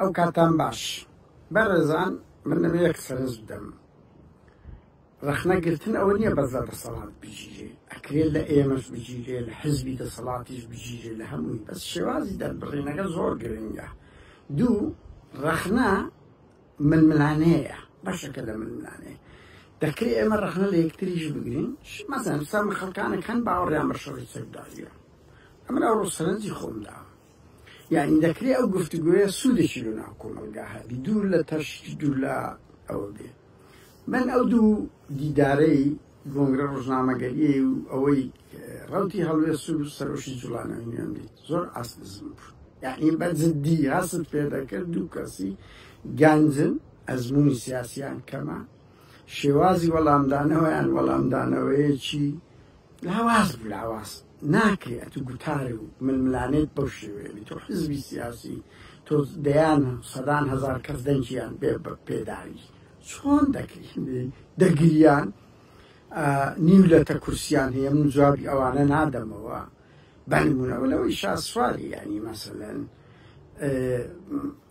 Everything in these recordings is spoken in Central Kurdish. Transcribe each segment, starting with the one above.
ئەو کاتان باش بەڕێزان من لەمە یەک سەرنج بدەم ڕخنە گرتن ئەوە نییە بەزە دەسەڵات بگیرێ ئەکرێت لە ئێمەش بگیرێ لە حزبی دەسەڵاتیش بگیرێ لە هەمووی بەس شێوازی دەربڕینەکە زۆر گرنگە دوو ڕخنە ململانەیە بەشەکە لە ململانەیە دەکرێت ئێمە ڕخنە لە یەکتریش بگرین مەزان سام خەڵکانە کەن باوەڕیان بە شەڕی سەرداویە ئەمن ئەو ڕوسەرنجی خۆمداوە یانی دەکرێ ئەو گفتوگۆیە سوودێکی لە ناو کۆمەلگا هەبی دوور لە تەش دوور لە ئەوە بێ من ئەو دوو دیدارەی گۆنگرە ڕژنامەگەریە و ئەوەی ڕوتی هەڵوێ سوور سەرۆشی جوڵانەوە نوێن بیت زۆر ئاست بزم بوو یعنی بە جددی هەست پێ دەکرد دوو کەسی گەنجن ئەزمموی سیاسیان کەمە شێوازی وەڵامدانەوەیان وەڵامدانەوەیەکی لاواز لاواز ناکرێ ئەتو گوتار و ململانێت بەو شێوەیە بی تۆ حزبی سیاسی تۆ دەیان سەدان هزار کەس دەنجیان بێ بە پێداوی چۆن دەکەی دەگریان نیو لە تە کورسیان هەیە من جوابی ئەوانە نادەمەوە بەنمونەوە لەوەی شاسواری ینی مەسەن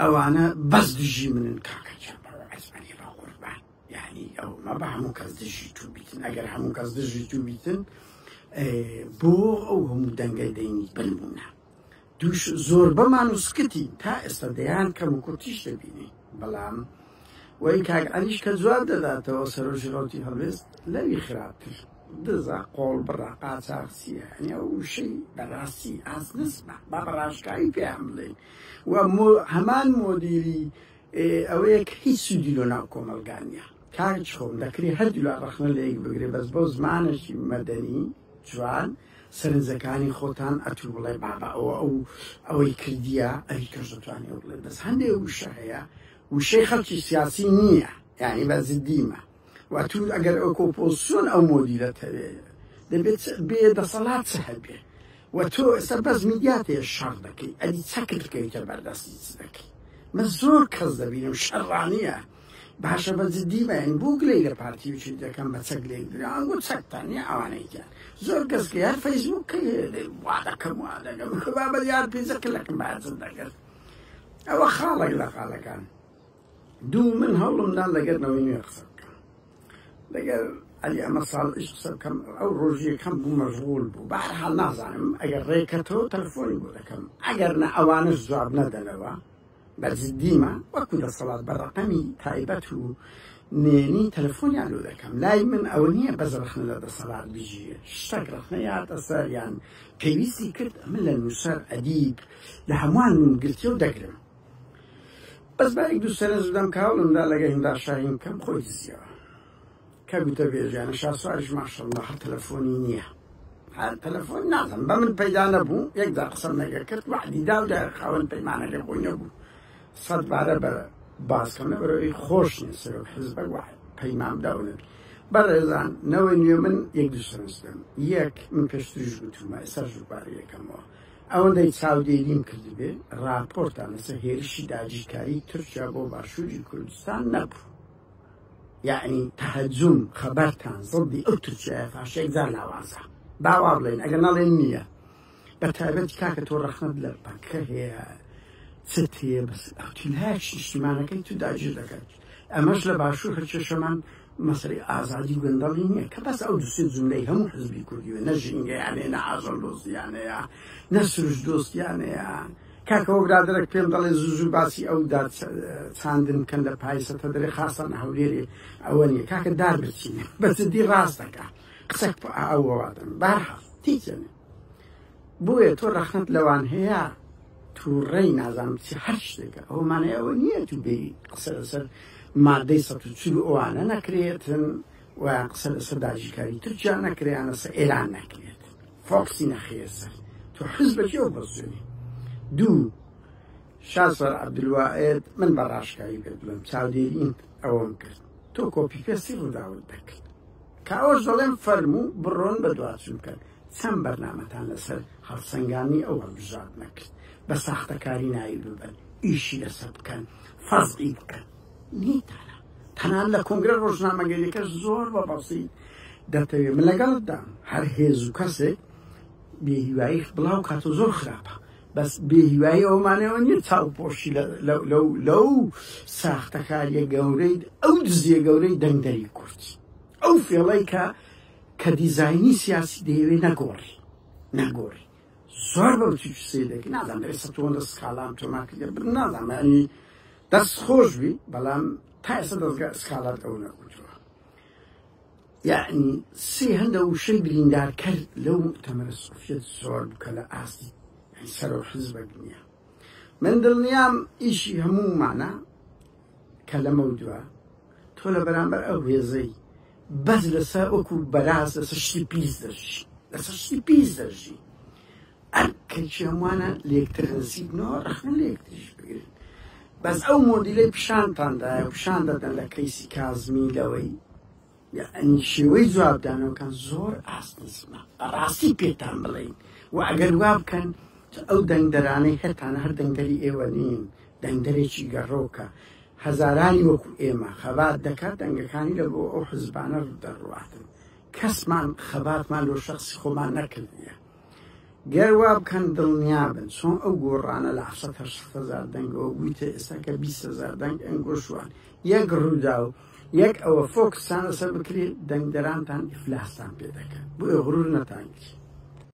ئەوانە بەس دژی منن کاکە چاپەوە ئەزمانی بە قوربان یانی ئەو مەبە هەموو کەس دژی تو بیتن ئەگەر هەموو کەس دژی تو بیتن بۆ ئەو هەموو دەنگە دەینی بنمونە دوش زۆر بەمان و سکتی تا ئێستا دەیان کەم و کورتیش دەبینی بەڵام وەی کاک ئەلیش کە جواب دەداتەوە سەرۆژی ڕوتی هەڵێست لەوی خراپتر دزا قۆڵ بڕا قاچاقسیە ئەنیا وشەی بەڕاستی ئاز نزمە با بەڕاشکایی پێیان بڵێن و هەمان مۆدیری ئێ ئەوەیە کە هیچ سوودی لۆ ناو کۆمەڵگا نیە. کاک خۆم دەکرێ هەردولا ڕەخنە لە یەک بگرێ بەس بۆ زمانەکی مەدەنی جوان سەرنجەکانی خۆتان ئەتوو بڵێ بابە ئەوە ئەو ئەوەی کردیە ئەوی تۆش دەتوانی ئەو بڵێ بەس هەندێ وشە هەیە وشەی خەڵکی سیاسی نییە یانی بە زدیمە وتوت ئەگەر ئۆکۆپۆسیۆن ئەو مۆدیلەت هەوێ دەبێت بێ دەسەڵات چ هەبێ و تۆ ئێستا بەس میدیات هەیە شەڕ دەکەی ئەدی چەکت بکەویتە بەردەستی چ دەکەی من زۆر کەس دەبینم شەڕانیە باشە بە جدی بەین بۆ گلەی لە پارتی وچی دەکەم بە چەک لێ گرانگو چەکتان یا ئەوانەیتیان زۆر کەس کە یار فەیسبوک کە وا دەکەم وا دەگەم خبا بە یار پێزەکە لەکەم بازم دەگەست ئەوە خاڵێک لە خاڵەکان دوو من هەوڵم دا لەگەر نەوەی نوێ قسە بکەم لەگەر ئەلی ئەمە ساڵش قسە بکەم ئەو ڕۆژیەکەم بوو مەژغول بوو بەحال نازانم ئەگەر ڕێکەتەوە تەلفۆنی بۆ دەکەم ئەگەر نە ئەوانش جواب نەدەنەوە بەجددیمە وەکو دەسەڵات بە ڕقەمی تایبەت و نێنی تەلفۆنیان لۆ دەکەم لای من ئەوە نییە بەس ڕخنە لە دەسەڵات بژی شتەک ڕخنە یاتە سەریان پێویستی کرد من لە نووسەر ئەدیب لە هەمووان من گرتی و دەگرم بەس با یەک دوو سەرنج بدەم کە هەوڵمدا لەگە هیمدا شاهین بکەم خۆی دزیەوە کە گوتەبێژیانە شاسواریش ماشەڵڵا هەر تەلەفۆنی نییە هەر تەلەفۆن نازم بە من پەیدا نەبوو یەکدا قسەم نەگە کرد وعدی دا و دا خاوەن پەیمانەکە بۆی نەبوو سەد بارە بە باسکەم نەبەرەوەی خۆش نیە سەرۆک حزبە وعد پەیمام داونێت بەڕێزان نەوەی نوێ من یەک دوو سەرنج بدەم یەک من پێشتریش گوتومە ئێستا ژوبارەکەمەوە ئەوەندەی چاودێریم کردبێ ڕاپۆرتان لەسەر هێرشی داگیرکاری تورکیا بۆ باشووری کوردستان نەبوو یەعنی تەهجوم خەبەرتان زەدی ئەو تورکیایە فاشەیەک جار لاوازە با وا بڵێن ئەگەر نەڵێن نییە بە تایبەت کاکە تۆ ڕەخنەت لە پەکە هەیە چت هەیە بەس ئەوتیلایەک نیشتیمانەکەی تو داگیر دەکات ئەمەش لە باشوور هەرکێشەمان مەسەلەی ئازادی و گەندەڵی نیە کە بەس ئەو دو سێ جوملەی هەمو حزبی کوردیە نە ژینگەیانەیە نە ئاژەڵ دۆستیانەیە نە سروشت دۆستیانەیە کاکەوە برادەرەک پێم دەڵێ زوو زوو باسی ئەو داد چاندن بکەن لە پایسە تە دەرێ خاستان هەولێرێ ئەوە نیە کاکە دار بچین بەجددی ڕاستەکە قسەک ئەوەوادن بارحاڵ تیچێنێ بۆیە تۆ ڕەخنەت لەوان هەیە تووڕەی نازانم چ هەر شتێکە ئەو مانای ئەوە نییە تو بێ قسە لەسەر مادەی سە چور ئەوانە نەکرێتن و قسە لەسەر داژیکاری تورکیا نەکریان لەسەر ئێران نەکرێت فۆکسی نەخرێت سەر تۆ حز بەکی ئەو بەسوێنی دوو شاسەر عبدلوائێت من بە ڕاشکاری پێ بڵم چاودێرین ئەوەم کرد تۆ کۆپی پێسی ڕووداوت دەکرد کاوەش دەڵێم فەرموو بڕۆن بە دواچون کرد چەند بەرنامەتان لەسەر هەڵسەنگاندنی ئەو هەڵبژاردنە کرد بە ساختەکاری ناوی ببەن ئیشی لەسەر بکەن فەزعی بکەن نیتانە تەنان لە کۆنگرە ڕۆژنامەگەریەکە زۆر بە بەسیت دەتەوێ من لەگەڵتدام هەر هێز و کەسێک بێهیوایی بڵاو کات و زۆر خراپە بەس بێهیوایی ئەومانەوە نیە چاوپۆشی لەو ساختەکاریە گەورەی ئەو دزیە گەورەی دەنگدەری کورد ئەو فێڵەی کە کە دیزاینی سیاسی دەیەوێ نەگۆڕی نەگۆڕی زۆر بەو چی سێدەک نازان بێ سەتۆن لە سکالام تۆماکی لە بن نازان معنی دەست خۆش بی بەڵام تا ئێستا دەستگا سکالات ئەو نەکوتووە یعنی سێ هەندە وشەی بریندارکەر لەو تەمەرە سوفیت زۆر بکە لە ئاستی سەرۆ حزبە دنیا من دڵنیام ئیشی هەموومانە کە لەمەو دووە تۆ لە بەرامبەر ئەو هێزەی بەس لەسەر وەکو بەراز لەسەر شتی پیس دەژی لەسەر شتی پیس دەژی ئەرکێکی هەمووانە لێکتر نزیکنەوە ڕەخنە لێکتریش بگرن بەس ئەو مۆدیلەی پیشانتاندایە پیشان دەدەن لە کەیسی کازمی لەوەی یەعنی شێوەی جوابدانەوەکان زۆر ئاست نزمە بەڕاستی پێتان بڵێین و ئەگەر وا بکەن ئەو دەنگدەرانەی هەتانە هەر دەنگدەری ئێوە نین دەنگدەرێکی گەڕۆکە هەزارانی وەکو ئێمە خەبات دەکات دەنگەکانی لە بۆ ئەو حزبانە دەڕواتن کەسمان خەباتمان لۆ شخصی خۆمان نەکردە گەر وا بکەن دڵنیا بن چۆن ئەو گۆڕانە لە حەشت هەشت هەزار دەنگەوە بوویتە ئێستا کە بیست هەزار دەنگ ئەنگۆشوان یەک ڕووداو یەک ئەوە فۆکستان لەسەر بکرێت دەنگدەرانتان ئیفلاستان پێ دەکەن بۆیە غرور نەتان گرێ.